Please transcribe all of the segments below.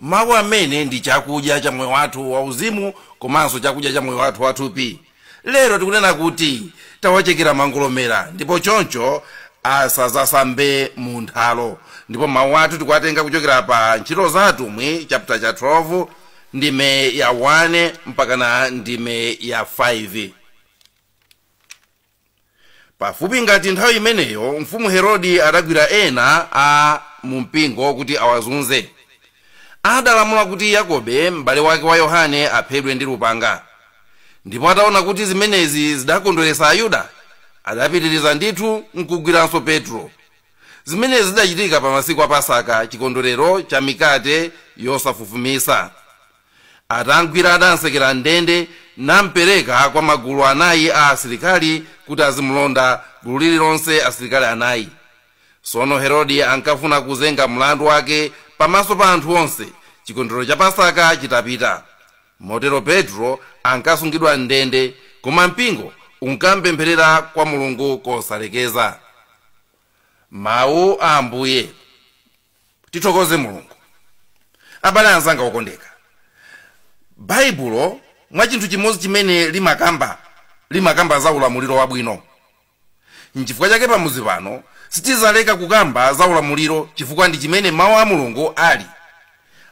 Mawu amene ndi chakudya cha moyo wathu wauzimu komanso chakudya cha moyo wathu wathupi. Lero tikunena kuti tawachekera mangolomera ndipo choncho asazasambe mu nthalo ndipo mawu athu tikuwatenga kuchokera pa Ntchito za Atumwi chaputala cha 12 ndime ya 1 mpakana ndime ya 5. pafupi ngati nthawi imeneyo mfumu herodi adagwira ena a mumpingo kuti awazunze adalamula kuti yakobe m'bale wake wa yohane aphedwe ndi lupanga ndipo ataona kuti zimenezi zidakondweretsa ayuda adapitiriza ndithu nkugwiranso petro zimenezi zidachitika pa masiku a pasaka chikondwerero cha mikate yosafufumitsa Atam'gwira adam'sekera m'ndende nam'pereka kwa magulu anayi a asilikali kuti azimulonda, gulu lililonse asilikali anayi. Tsono Herodi ankafuna kuzenga mlandu wake pamaso pa anthu onse, chikondwerero cha Pasaka chitapita. Motero Petro ankasungidwa m'ndende, koma mpingo unkamupempherera kwa Mulungu kosalekeza. Mawu a Ambuye. Tithokoze Mulungu. Abale anzanga okondeka, Baibulo mwa chinthu chimodzi chimene limakamba za ulamuliro wabwino. Nchifukwa chake pamudzi pano sitizaleka kukamba za ulamuliro chifukwa ndi chimene Mau a Mulungu ali.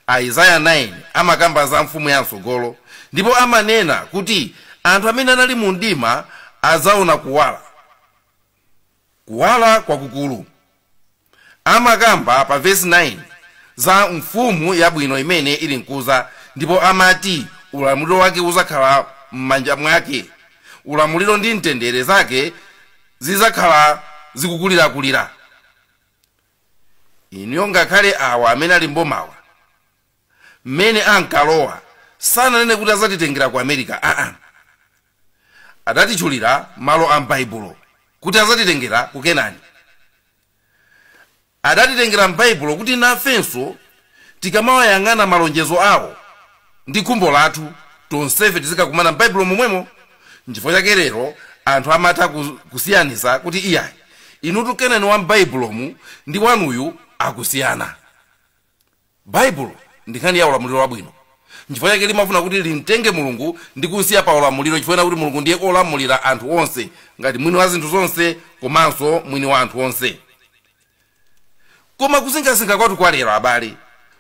Aizaya 9 amakamba za mfumu ya mtsogolo ndipo amanena kuti anthu amene anali mu mdima adzaona kuwala, kuwala kwakukulu. Amakamba pa vesi 9 za mfumu yabwino imene ili nkuza ndipo amati ulamuliro wake uzakhala mmanja mwake. Ulamuliro ndi mtendere zake zizakhala zikukulirakulira. Inuyo ngakhale awa amene ali mbomawa. mmene ankalowa sananene kuti azatitengera ku America aa adatitchulira malo a m'baibulo kuti azatitengera ku kenani adatitengera m'baibulo kuti nafenso tikamawayang'ana malonjezo awo ndi khumbo lathu tonsefe tizikakumana m'baibulo momwemo nchifukwa chake lero anthu amatha kusiyanisa kuti iyayi inutu kenani wa m'baibulomu ndi wanuyu akusiyana Baibulo ndi nkhani ya ulamuliro wabwino. Nchifukwa chake limafuna kuti limtenge Mulungu ndi kumsiya pa ulamuliro chifukwa chonena kuti Mulungu ndiye olamulira anthu onse ngati mwini wa zinthu zonse komanso mwini wa anthu onse. Koma kusinkhasinkha kwathu kwa lero abale,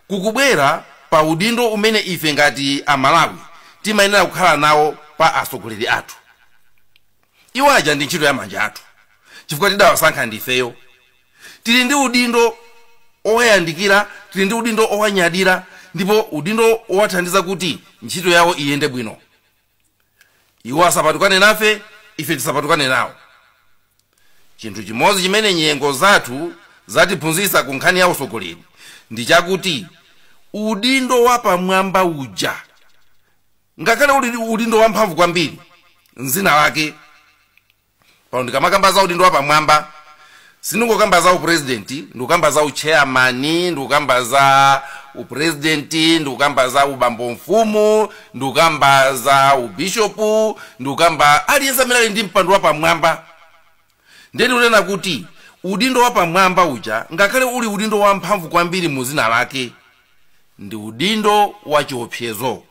kukubwera pa udindo umene ife ngati Amalawi timayenera kukhala nawo pa atsogoleri athu. iwo aja ndi ntchito ya manja athu chifukwa tidawasankha ndifeyo tili ndi udindo owayandikira tili ndi udindo owanyadira ndipo udindo owathandiza kuti ntchito yawo iyende bwino iwo asapatukane nafe ife tisapatukane nawo chinthu chimodzi chimene nyengo zathu zatiphunzitsa ku nkhani ya utsogoleri ndi chakuti udindo wapamwamba uja ngakhale uli udindo wamphamvu kwambiri mzina lake pano ndikamakamba za udindo wapamwamba sindingokamba za upurezidenti ndikukamba za ucheyamani ndikukamba za upurezidenti ndikukamba za ubambo mfumu ndikukamba za ubishopu ndikukamba aliyense amene ali ndi mpando wapamwamba Ndiye ndikunena kuti udindo wapamwamba uja, ngakhale uli udindo wamphamvu kwambiri mu dzina lake, ndi udindo wa chiopsezo.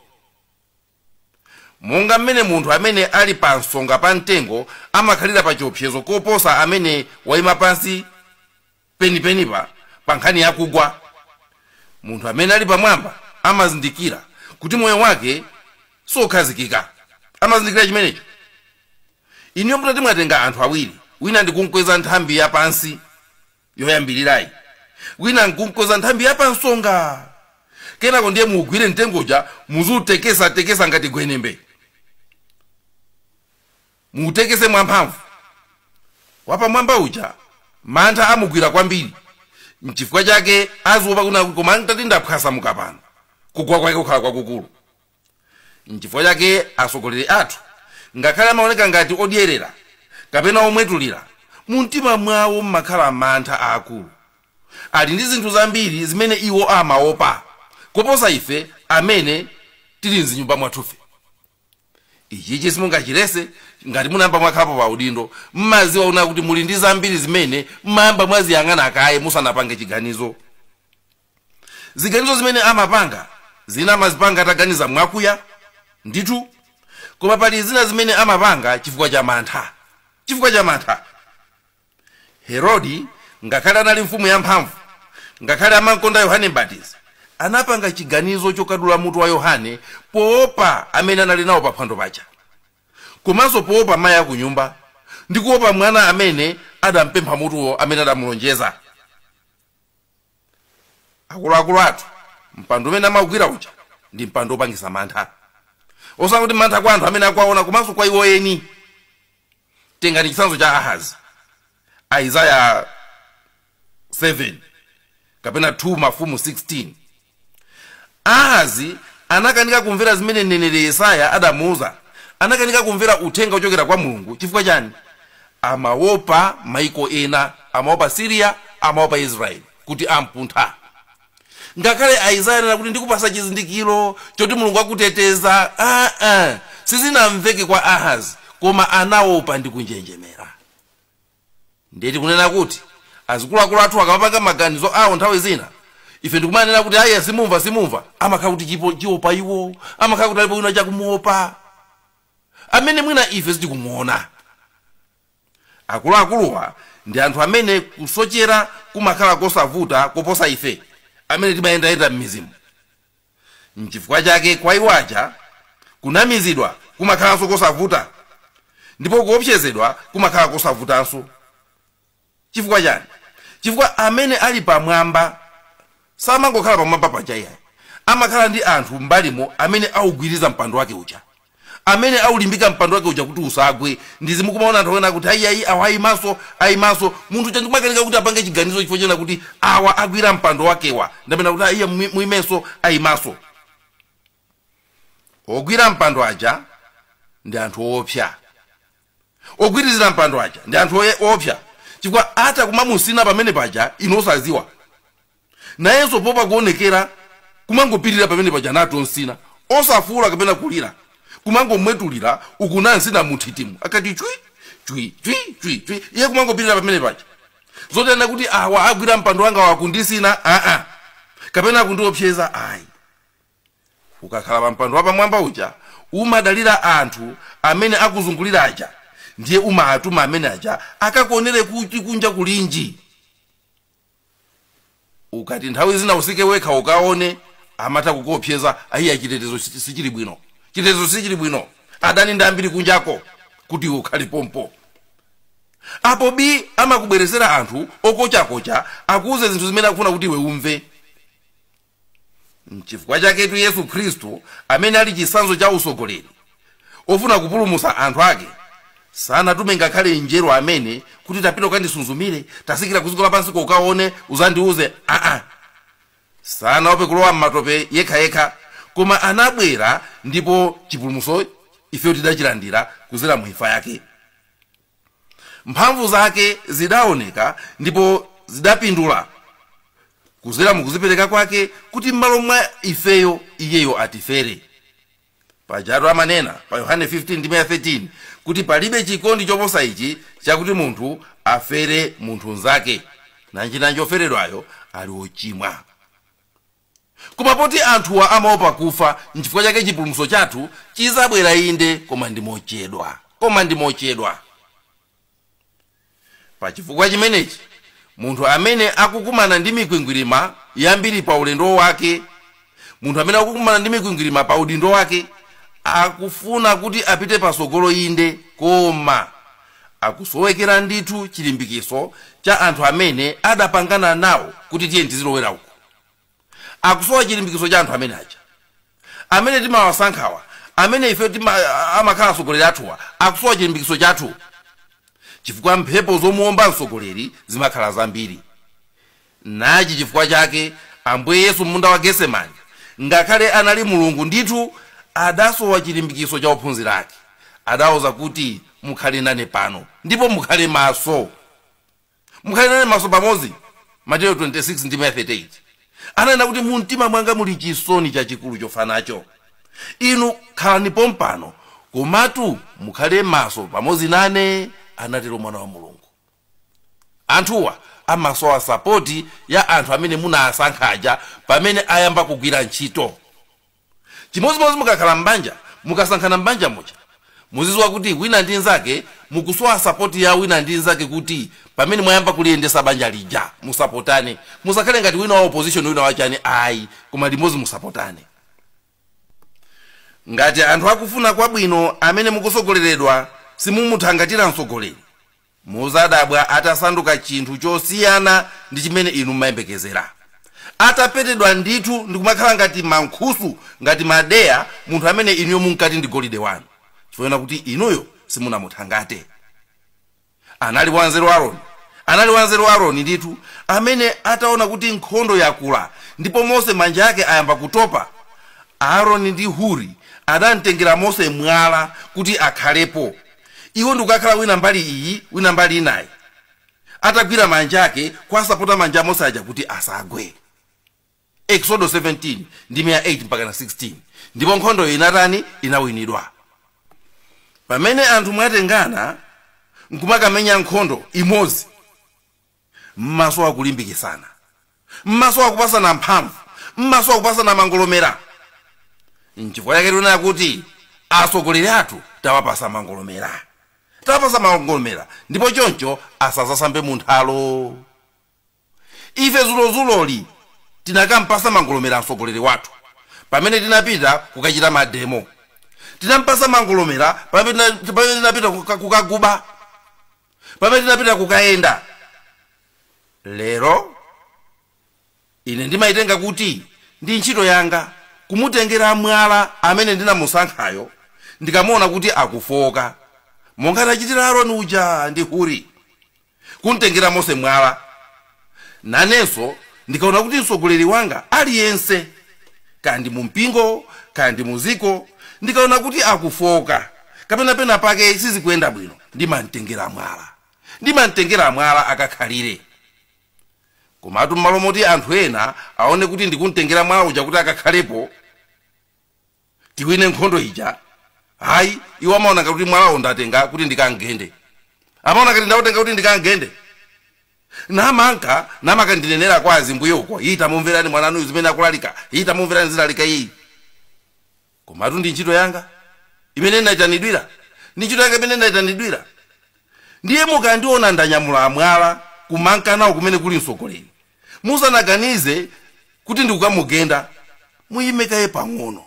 Monga m'mene munthu amene ali pa nsonga pa mtengo amakhalira pa chiopsezo koposa amene waima pansi penipenipa pa nkhani ya kugwa. Munthu amene ali pamwamba amazindikira kuti moyo wake siokhazikika. Amazindikira chimenecho. Inuyo mutati mwatenga anthu awiri, wina ndikumkweza nthambi ya pansi yoyambirirayi, wina nkumkweza nthambi ya pansonga, kenako ndiye muugwire mtengo uja muziutekesatekesa ngati gwenembe. Muutekese mwamphamvu. Wapamwamba uja mantha amugwira kwambiri nchifukwa chake aziopa kunena kuti koma ntati ndaphwasamuka pano kugwa kwake kukhala kwakukulu. Nchifukwa chake atsogoleri athu ngakhale amaoneka ngati odyerera kapena omwetulira, mumtima mwawo mumakhala mantha aakulu. Ali ndi zinthu zambiri zimene iwo amaopa kuposa ife amene tili m'zinyumba mwathufe. ichichi simungachilese ngati munayamba mwakhapo pa udindo mmaziwa una kuti muli ndi zambiri zimene mmayamba mwaziyang'ana kaye musanapange chiganizo ziganizo zimene amapanga zina amazipanga ataganiza mwakuya ndithu koma pali zina zimene amapanga chifukwa cha mantha chifukwa cha mantha Herodi, ngakhale anali mfumu yamphamvu, ngakhale amamkonda Yohane Mbatizi, anapanga chiganizo chokadula mutu wa Yohane poopa amene anali nawo paphwando paja, komanso poopa mayi akunyumba ndi kuopa mwana amene adampempha mutuwo amene adamulonjeza. akuluakulu athu mpando umene amaugwira uja ndi mpando wopangisa mantha osati kuti mantha kwa anthu amene akuwaona komanso kwa iwo eni tengani chitsanzo cha ahazi aizaya 7 kapena 2 mafumu 16 ahazi anakanika kumvera zimene mneneri yesaya adamuuza anakanika kumvera uthenga ochokera kwa mulungu chifukwa chani amaopa maiko ena amaopa syria amaopa israel kuti ampuntha ngakhale aizaya anena kuti ndikupasa chizindikiro choti mulungu akuteteza aa sizinamveke kwa ahazi koma anaopa ndi kunjenjemera ndiye tikunena kuti azikuluakulu athu akamapanga maganizo awo nthawi zina ife ndikumanena kuti ayi simumva simumva amakhala kuti chipo- chiopa iwo amakhala kuti alipo wina akumuopa amene mwina ife sitikumuona akuluakuluwa ndi anthu amene kusochera kumakhala kosavuta koposa ife amene timayendayenda m'mizimu nchifukwa chake kwa iwo aja kunamizidwa kumakhalanso kosavuta ndipo kuopsezedwa kumakhala kosavutanso chifukwa chani chifukwa amene ali pamwamba samangokhala pamwamba paja iyayi amakhala ndi anthu mbalimo amene augwiriza mpando wake uja amene aulimbika mpando wake uja kuti usagwe ndiye mukumaona anthu akunena kuti ayiayi awa ayimaso ayimaso munthu uja ndikumakanika kuti apange chiganizo chifukwa chonena kuti awa agwira mpando wakewa ndi amene akuti ayiyayi muimeso ayimaso ogwira mpando aja ndi anthu oopsa ogwirizira mpando aja ndi anthu oye- oopsa chifukwa atha kumamusina pamene paja inu osaziwa nayenso poopa kuonekera kumangopirira pamene paja ali kumsina osafuula kapena kulira kumangomwetulira uku akumsina munthitimu akati chwi chwi chwi chwi chwi iye kumangopirira pamene paja zoti anena kuti awa agwira mpando wanga akundisina aa kapena akundiopseza ayi ukakhala pa mpando wapamwamba uja umadalira anthu amene akuzungulira aja ndiye umaatuma amene aja akakuonere kuti kunja kulinji ukati nthawi zina utsike wekha ukaone amatha kukuopseza ayiya chitetezo sichi- sichili bwino chitetezo sichili bwino adani ndi ambiri kunjako kuti iwe ukhale pompo apo bi amakubweretsera anthu okochakocha akuuze zinthu zimene akufuna kuti iwe umve mchifukwa chaketu yesu khristu amene ali chisanzo cha usogoleri ofuna kupulumusa anthu ake sanatume ngakhale mngelo amene kuti tapita ukandisuzumire tasikira kuziko lapansi ko ukaone uzandiuze aa sanaope kulowa mmatope yekha yekha koma anabwera ndipo chipulumuso ifeyo tidachilandira kuzera mu imfa yake mphamvu zake zidaoneka ndipo zidapindula kuzera mukuzipereka kwake kuti m'malo mwa ifeyo iyeyo atifere pajatu amanena pa yohane 15 ndime ya 13 kuti palibe chikondi choposa ichi chakuti munthu afere munthu nzake nanjinanji oferedwayo ali wochimwa Koma poti anthuwa amaopa kufa, nchifukwa chake chipulumutso chathu chidzabwera inde, koma ndi mochedwa. Pa chifukwa chimenechi, munthu amene akukumana ndi mikwingwirima yambiri pa ulendo wake, munthu amene akukumana ndi mikwingwirima pa udindo wake, akufuna kuti apite patsogolo inde, koma akusowekera ndithu chilimbikitso cha anthu amene adapangana nawo kuti tiyeni tizilowera uku. akusowa chilimbikitso cha anthu amene aja amene timawasankhawa amene ife tima, amakhala atsogoleri athuwa akusowa chilimbikitso chathu chifukwa mphepo zomuomba mtsogoleri zimakhala zambiri nachi chifukwa chake ambuye yesu m'munda wa getsemani ngakhale anali mulungu ndithu adasowa chilimbikitso cha ophunzira ake adawauza kuti mukhale nane pano ndipo mukhale maso Mukhale nane maso pamodzi, Mateyo 26 ndime ya 38, ananena kuti, Mu mtima mwanga muli chisoni chachikulu chofa nacho. Inu khalani pompano, komatu mukhale maso pamodzi nane, anatero Mwana wa Mulungu. Anthuwa amasowa sapoti ya anthu amene munawasankha aja pamene ayamba kugwira ntchito. chimodzimodzi mukakhala mbanja mukasankhana mbanja muja muziziwa kuti wina ndi nzake mukusowa sapoti ya wina ndi nzake kuti pamene mwayamba kuliyendesa banja lija musapotane musakhale ngati wina wa opposition wina wachani ayi koma limodzi musapotane ngati anthu akufuna kwabwino amene mukusogoleredwa simumuthangatira msogoleri Mudzadabwa atasanduka chinthu chosiyana ndi chimene inu mumayembekezera. Atapetedwa ndithu ndikumakhala ngati mankhusu, ngati madeya, munthu amene inuyo munkati ndi golide wanu, chifukwa chonena kuti inuyo simunamuthangate. Anali wanzeru Aroni, anali wanzeru Aroni ndithu, amene ataona kuti nkhondo yakula ndipo Mose manja ake ayamba kutopa, Aroni ndi Huri adamtengera Mose mwala kuti akhalepo. Iwo ndikukakhala wina mbali iyi wina mbali inayi atagwira manja ake kuwasapota manja a Mose aja kuti asagwe. Eksodo 17 ndime ya 8 mpakana 16 ndipo nkhondoyo inatani? Inawinidwa. Pamene anthu mwatengana nkumakamenya nkhondo imodzi. M'masowa kulimbikitsana. M'masowa kupasana mphamvu. M'masowa kupasana mangolomera. Nchifukwa chake tikunena kuti atsogoleri athu tawapasa mangolomera. Tawapasa mangolomera ndipo choncho asazasambe mu nthalo. Ife dzulodzuloli tinakampasa mangolomera a mtsogoleri wathu pamene tinapita kukachita mademo. Tinampasa mangolomera pamene tinapita kukaguba. pamene tinapita kukayenda lero ine ndimayitenga kuti ndi ntchito yanga kumutengera mwala amene ndinamusankhayo ndikamuona kuti akufooka monga anachitira aroni uja ndi huri kumtengera mose mwala Nanenso ndikaona kuti mtsogoleri wanga aliyense, kaya ndi mumpingo, kaya ndi mudziko, ndikaona kuti akufooka kapena penapake sizikuyenda bwino, ndimam'tengera mwala. Ndimam'tengera mwala akakhalire. Komatu m'malo moti anthu ena aone kuti ndikum'tengera mwala uja kuti akakhalepo, tiwine nkhondo ija ayi iwo amaona ngati kuti mwalawo ndatenga kuti ndikamgende amaona ngati ndautenga kuti ndikamgende namanka ndinenera kwa azimbuye uko ii tamumverani mwananuyu zimene akulalika ii tamumverani zilalika iyi komatu ndi ntchito yanga imene ndinayitanidwira ndi ntchito yanga imene ndinayitanidwira ndiye mukandiona ndanyamula mwala kumanka nawo kumene kuli mtsogoleri musanaganize kuti ndikukamugenda muyime kaye pang'ono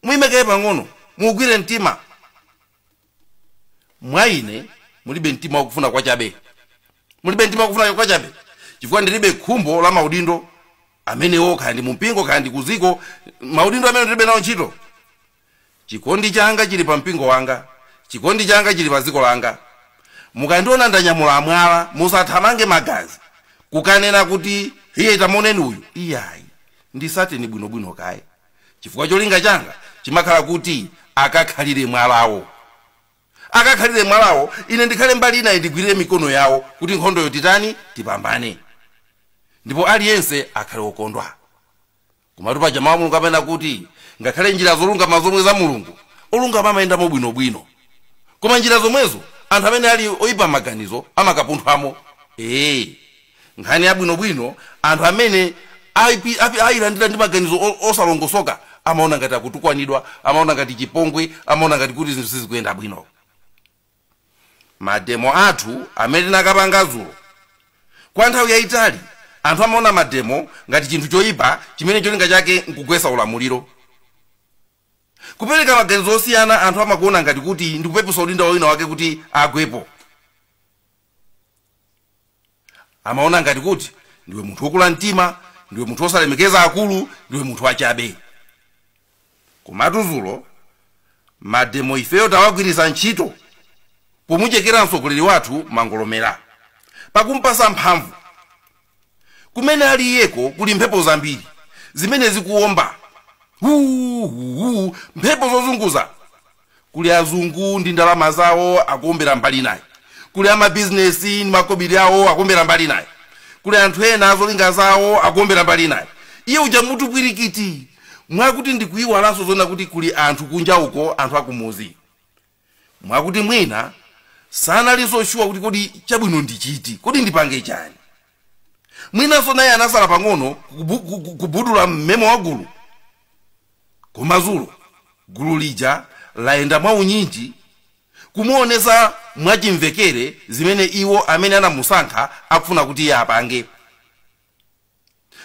muyime kaye pang'ono muugwire mtima mwa ine mulibe mtima wakufuna kwachabe mulibe mtima wakufuna kwachabe chifukwa ndilibe khumbo la maudindo amenewo kaya ndi mumpingo kaya ndi kuziko maudindo amenewo ndilibe nawo ntchito Chikondi changa chili pa mpingo wanga. Chikondi changa chili pa dziko langa. Mukandiona ndanyamula mwala, musathamange magazi, kukanena kuti, Ii, tamuoneni uyu! Iyayi. Ndisateni bwinobwino kaye, chifukwa cholinga changa chimakhala kuti akakhalire mwalawo. Akakhalire mwalawo, ine ndikhale mbali inayi ndigwirire mikono yawo kuti nkhondoyo titani? Tipambane. Ndipo aliyense akhale wokondwa. komatu paja mawu a mulungu amanena kuti ngakhale njira zolungama zomwe za mulungu olungama amayendamo bwinobwino koma njira zomwezo anthu amene ali oyipa maganizo amakapunthwamo ee nkhani yabwinobwino anthu amene ayilandira ndi maganizo osalongosoka amaona ngati akutukwanidwa amaona ngati chipongwe amaona ngati kuti zinthu sizikuyenda bwino Mademo athu amene tinakapanga dzulo. Kwa nthawi yaitali, anthu amaona mademo ngati chinthu choipa chimene cholinga chake n'kugwetsa ulamuliro. Kupereka maganizo osiyana anthu amakuona ngati kuti ndi kupepesa udindo wa winawake kuti agwepo. amaona ngati kuti ndiwe munthu wokula mtima ndiwe munthu wosalemekeza akulu ndiwe munthu wachabe komatu dzulo mademo ifeyo tawagwiritsa ntchito pomuchekera mtsogoleri wathu mangolomera pakumpasa mphamvu kumene ali iyeko kuli mphepo zambiri zimene zikuwomba huhuhu mphepo zozunguza kuli azungu ndi ndalama zawo akuombera mbali naye kuli amabizinesi ndi makobiri awo akuombera mbali naye kuli anthu ena azolinga zawo akuombera mbali naye iye uja mutu pwirikiti mwakuti ndikuyiwalanso zonena kuti kuli anthu kunja uko anthu akumuzi mwakuti mwina sanalinso shuwa kuti kodi chabwino ndi chiti kodi ndipange chani mwinanso naye anasala pang'ono kubudula mmemo wa gulu koma dzulo gulu lija layenda mwaunyinji kumuonesa mwachimvekere zimene iwo amene anamusankha akufuna kuti iye apange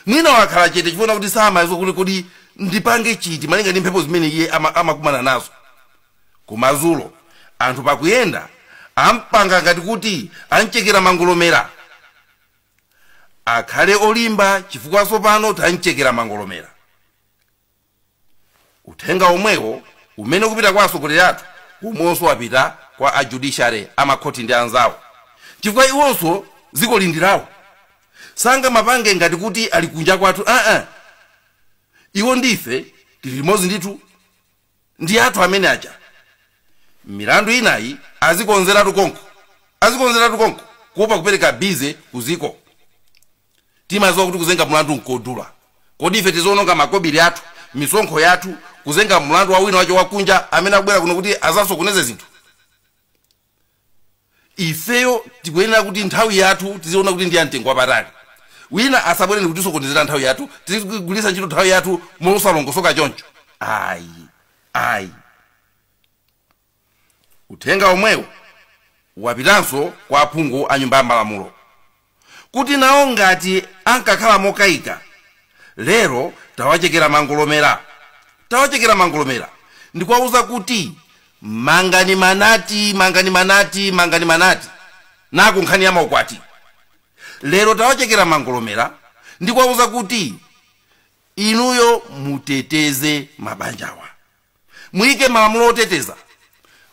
mwina wakhala chete chifukwa kuti samadziwa kuti kodi ndipange chiti malinga ndi mphepo zimene iye amakumana nazo koma dzulo anthu pakuyenda ampanga ngati kuti amchekera mangolomera akhale olimba chifukwa tsopano tamchekera mangolomera Uthenga womwewo umene ukupita kwa atsogoleri athu womwewonso wapita kwa a judiciary, a makhoti ndi anzawo chifukwa iwonso dzikoli ndi lawo. Sangamapange ngati kuti ali kunja kwathu aa! Iwo ndi ife tili limodzi ndithu. Ndi athu amene aja. Milandu inayi azikonzeratu konko, azikonzeratu konko kuopa kupereka busy ku dziko. Timadziwa kuti kuzenga mlandu nkodula. Kodi ife tiziwononga makobiri athu, misonkho yathu, kuzenga mlandu wa wina wache wakunja amene akubwera kuno kuti azasokoneze zinthu? Ifeyo tikuyenera kuti nthawi yathu tiziona kuti ndi ya mtengo wapatali. Wina asabwere nkutisokonezera nthawi yathu, tizigwiritsa ntchito nthawi yathu mosalongosoka choncho. Ayi. uthenga omwewu wapitanso kwa aphungu a nyumba ya malamulo kuti nawo ngati ankakhala mokaika lero tawachekera mangolomera tawachekera mangolomera ndikuwauza kuti mangani manati mangani manati mangani manati na ku nkhani ya maukwati lero tawachekera mangolomera ndikuwauza kuti inuyo muteteze mabanjawa muyike malamulo oteteza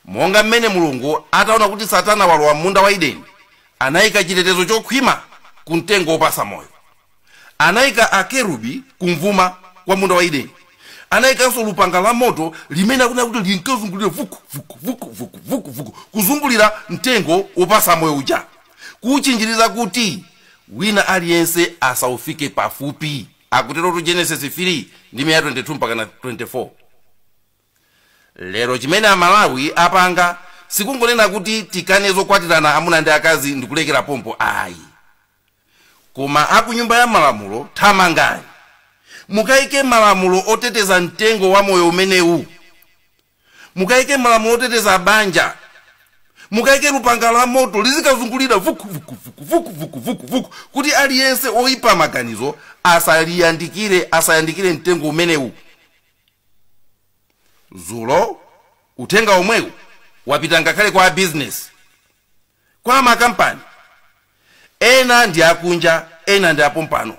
monga mmene mulungu ataona kuti satana walowa m'munda wa edeni anayika chitetezo chokhwima ku mtengo wopatsa moyo anayika akerubi kum'vuma kwa munda wa edeni anayikanso lupanga la moto limene akunena kuti linkazungulira vuku vuku vuku vuku vuku vuku kuzungulira mtengo wopatsa moyo uja kuwutchinjiriza kuti wina aliyense asawufike pafupi Akuterotu Genesis 3 ndime ya 22 mpakana 24. Lero chimene a Malawi apanga sikungonena kuti tikane zokwatirana amuna ndi akazi ndikulekera pompo ayi. Koma a ku Nyumba ya Malamulo thamangani mukaike malamulo oteteza mtengo wa moyo umenewu mukaike malamulo oteteza banja mukaike lupanga la moto lizikazungulira vuku vuku vuku vuku vuku vuku vuku kuti aliyense oipa maganizo asaliyandikire asayandikire mtengo umenewu zulo uthenga omwewu wapita ngakhale kwa abizinesi kwa makampani ena ndi akunja ena ndi apompano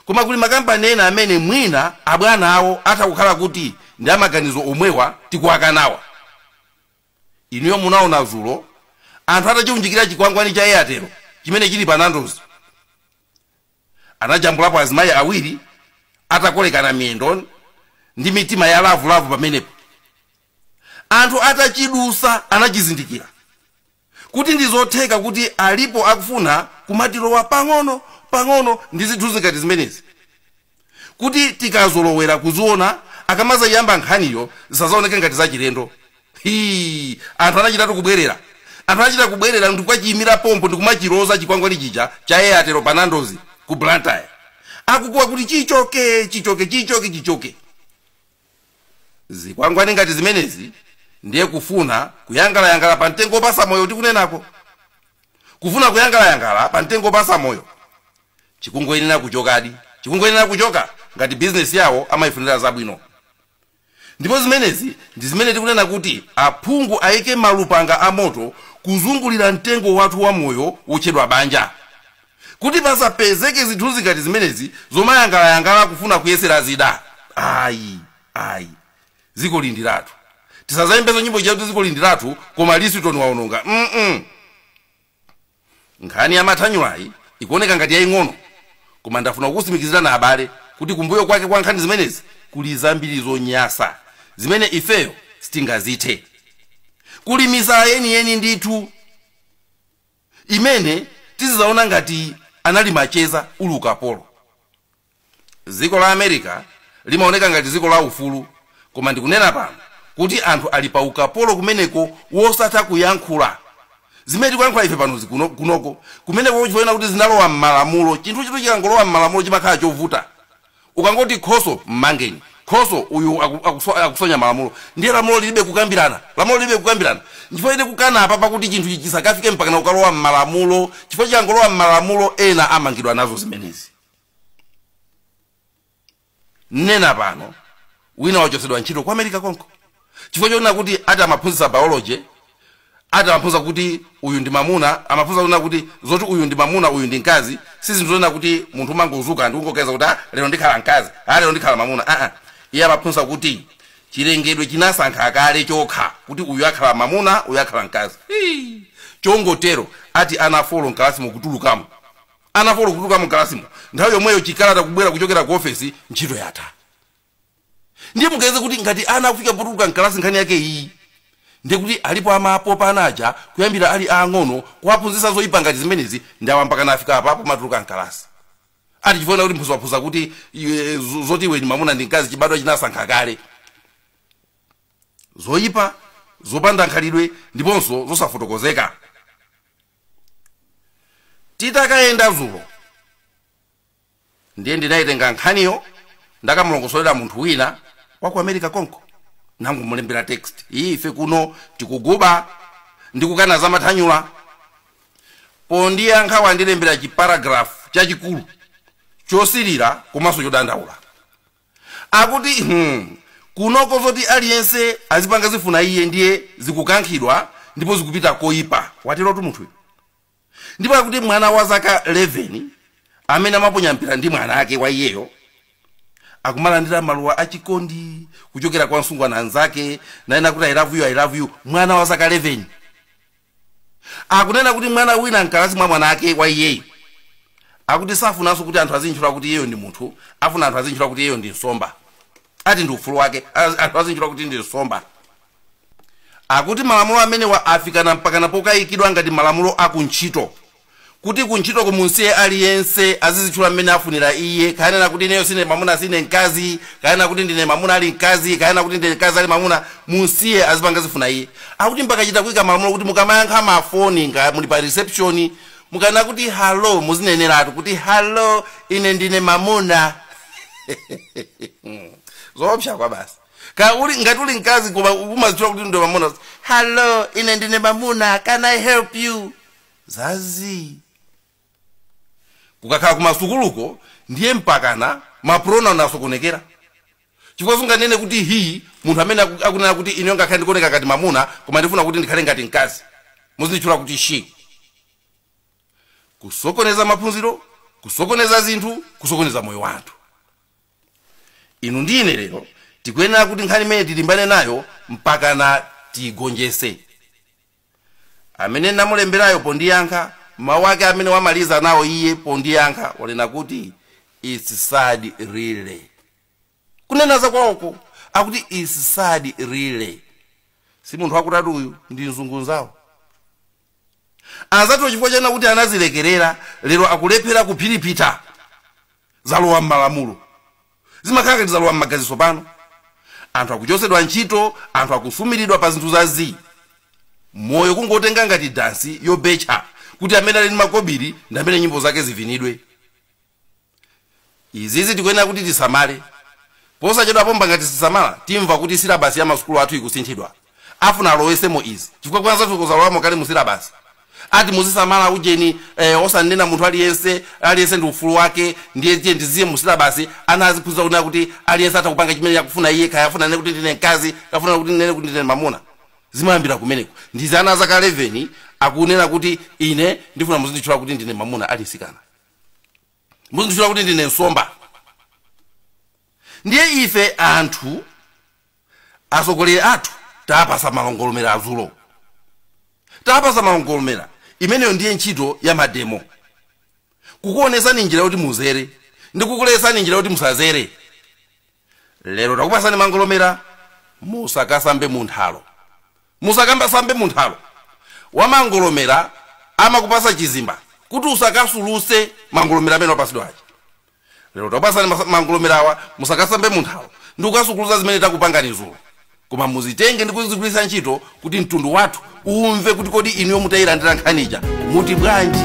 koma kuli makampani ena amene mwina abwana awo atha kukhala kuti ndi amaganizo omwewa tikuwakanawa inuyo munaona zulo anthu atachiunjikira chikwangwani cha airtel chimene chili pa nandozi anajambulapo azimayi awiri atakolekana miyendo ndi mitima ya lavulavu pamenepo Anthu atachidusa anachizindikira kuti ndizotheka kuti alipo akufuna kumatilowa pang'ono pang'ono ndi zithunzi ngati zimenezi kuti tikazolowera kuziona akamazaiyamba nkhaniyo zisazaoneke ngati zachilendo. Hii anthu anachitatu kubwerera. Anthu anachita kubwerera ndikukachiyimira pompo ndikumachiloza chikwangwani chija cha Airtel pa Nando's ku Blantyre akukuwa kuti chichoke, chichoke, chichoke, chichoke. zikwangwani ngati zimenezi ndiye kufuna kuyangalayangala pa mtengo wopasa moyo tikunenako kufuna kuyangalayangala pa mtengo wopasa moyo chikungoyenera kuchokadi chikungoyenera kuchoka ngati bizinesi yawo amayifunira zabwino ndipo zimenezi ndi zimene tikunena kuti aphungu ayike malupanga a moto kuzungulira mtengo wathu wa moyo wotchedwa banja Kuti pasapezeke zithunzi ngati zimenezi zomayangalayangala kufuna kuyesera zida. Ayi. Ayi. Zikoli ndi lathu. Tisazayimbenso nyimbo ija yakuti zikoli ndi lathu koma Lisitoni waononga. mm. Nkhani ya mathanyulayi ikuoneka ngati yaying'ono koma ndafuna kukusimikizirani abale kuti kumbuyo kwake kwa nkhani zimenezi kuli zambiri zonyasa zimene ifeyo sitingazithe. Kuli misala yeniyeni ndithu. imene tizizaona ngati anali macheza uli ukapolo. Dziko la America limaoneka ngati dziko la ufulu koma ndikunena pano kuti anthu ali pa ukapolo kumeneko wosatha kuyankhula zimene tikuyankhula ife pano zi, kunoko kumeneko chifonena kuti zinalowa mmalamulo chinthu chitu chikangolowa mmalamulo chimakhala chovuta Ukangoti Khoso mmangeni Khoso uyu aku, akuswa, akusonya malamulo ndiye lamulo lilibe kukambirana lamulo lilibe kukambirana nchifukwa tili kukana apapa kuti chinthu ichi chisakafike mpakana ukalowa mmalamulo chifukwa chikangolowa mmalamulo ena amangidwa nazo zimenezi nnena pano wina wachotsedwa ntchito ku america konko chifukwa chonena kuti ati amaphunzitsa biology ati amaphunzitsa kuti uyu ndi mamuna amaphunzitsa kunena kuti zoti uyu ndi mamuna uyu ndi mkazi si zinthu zonena kuti munthu umangodzuka ndi kungoganiza kuti ah, lero ndikhala mkazi ah, lero ndikhala mamuna aa iye amaphunzitsa kuti chilengedwe chinasankha kale chokha kuti uyu akhala mamuna uyu akhala mkazi Hii. chongotero ati ana folo mkalasi mukutulukamo ana folo kutulukamo mkalasimo nthawi yomweyo chikalata kubwera kuchokera ku ofesi ntchito yatha ndiye muganize kuti ngati ana akufika potuluka mkalasi nkhani yake iyi ndiye kuti alipo amapopa ana aja kuyambira ali aang'ono kuwaphunzitsa zoyipa ngati zimenezi ndi awa mpaka nafika apa pomatuluka mkalasi ati chifukwa kuti mphunzitsi waphunzitsa kuti iwe, zo- zoti iwe ndi mamuna ndi mkazi chibadwa chinasankha kale zoyipa zopanda khalidwe ndiponso zosafotokozeka titakayenda dzulo ndiye ndinaitenga nkhaniyo ndakamulongosolera munthu wina waku america konko nangomulembera text ii ife kuno tikuguba ndi kukana za mathanyula pondiyankha wandilembera chi paragraph chachikulu chosilira komanso chodandaula akuti hmm kunoko zoti aliyense azipanga zifuna iye ndiye zikukankhidwa ndipo zikupita koipa waterotu munthuyo ndipo akuti mwana wa zaka 11 amene amaponya mpira ndi mwana ake wa iyeyo akumalandira maluwa achikondi kuchokera kwa msungwana mnzake nanena kuti i love you i love you mwana wa zaka 11 akunena kuti mwana wina mkalasi mwa mwana ake wa iyeyo akuti safunanso kuti anthu azintchula kuti iyeyo ndi munthu afuna anthu azintchula kuti iyeyo ndi nsomba ati ndi ufulu wake az- anthu azintchula kuti ndi nsomba akuti malamulo amenewa afika mpakana pokayikidwa ngati malamulo akuntchito kuti kuntchito kumunsiye aliyense azizitchula mmene afunira iye kaya anena kuti ineyo sine mamuna sine mkazi kaya anena kuti ndine mamuna ali mkazi kaya anena kuti ndine mkazi ali mamuna munsiye azipanga zifuna iye akuti mpaka achita kuyika malamulo kuti mukamayankha mafoni nga muli pa reception mukanena kuti hallo muzineneratu kuti hallo ine ndine mamuna zoopsa kwa basi ka uli ngati uli mkazi koma umazitchula kuti ndo mamuna hello ine ndine mamuna can i help you za zii kukakhala kumasukuluko ndiye mpakana mapronoun asokonekera chifukwa sunganene kuti he munthu amene aku- akunena kuti ine ngakhale ndikuoneka ngati mamuna koma ndifuna kuti ndikhale ngati mkazi muzinditchula kuti she kusokoneza maphunziro kusokoneza zinthu kusokoneza moyo wa anthu inu ndi ine lero tikuyenera kuti nkhani imeneyi tilimbane nayo mpakana tiigonjese amene namulemberayo pondiyankha mawu ake amene wamaliza nawo iye pondiyankha wanena kuti its sad really kunena za kwawoko akuti its sad really si munthu wakudatu uyu ndi mzungu nzawo anzathu chifukwa chonena kuti anazilekerera lero akulephera kuphiriphitha zalowa m'malamulo zimakhala ngati zalowa m'magazinso pano anthu akuchotsedwa ntchito anthu akusumiridwa pa zinthu za zii moyo kungotenga ngati dansi yobetcha kuti amene ali ndi makobiri ndi amene nyimbo zake zivinidwe Izizi tikuyenera kuti tisamale. Posachedwa pompa ngati sitisamala, timva kuti silabasi ya masukulu athu ikusinthidwa. Afuna alowesemo izi, chifukwa kwa anzathuko zalowamo kale mu silabasi. Ati muzisamala ujeni eh, osanena munthu aliyense, ali ndi ufulu wake, ndiye tiyeni tiziye mu silabasi, ana aziphunzira kunena kuti aliyense atha kupanga chimene akufuna iye, kaya afuna anene kuti ndine mkazi, kaya afuna kuti anene kuti ndine mamuna. Zimayambira kumeneko. Ndizi ana azaka 11 akunena kuti ine ndifuna muzinditchula kuti ndine mamuna ali mtsikana. muzinditchula kuti ndine nsomba ndiye ife anthu atsogoleri athu tapasa mangolomera dzulo tapasa mangolomera imeneyo ndiye ntchito ya mademo kukuonesani njira yoti muzere ndi kukulesani njira yoti musazere lero takupasani mangolomera musakasambe munthalo musakasambe munthalo wamangolomera amakupasa chizimba kuti usakasuluse mangolomera amene wapasidwa aja lero takupasani masa- mangolomera awa musakasambe munthalo ndi kukasukuluza zimene takupangani dzulo koma muzitenge ndi kuzigwiritsa ntchito kuti mtundu wathu umve kuti kodi inuyo mutayilandira nkhani ija muti bwanji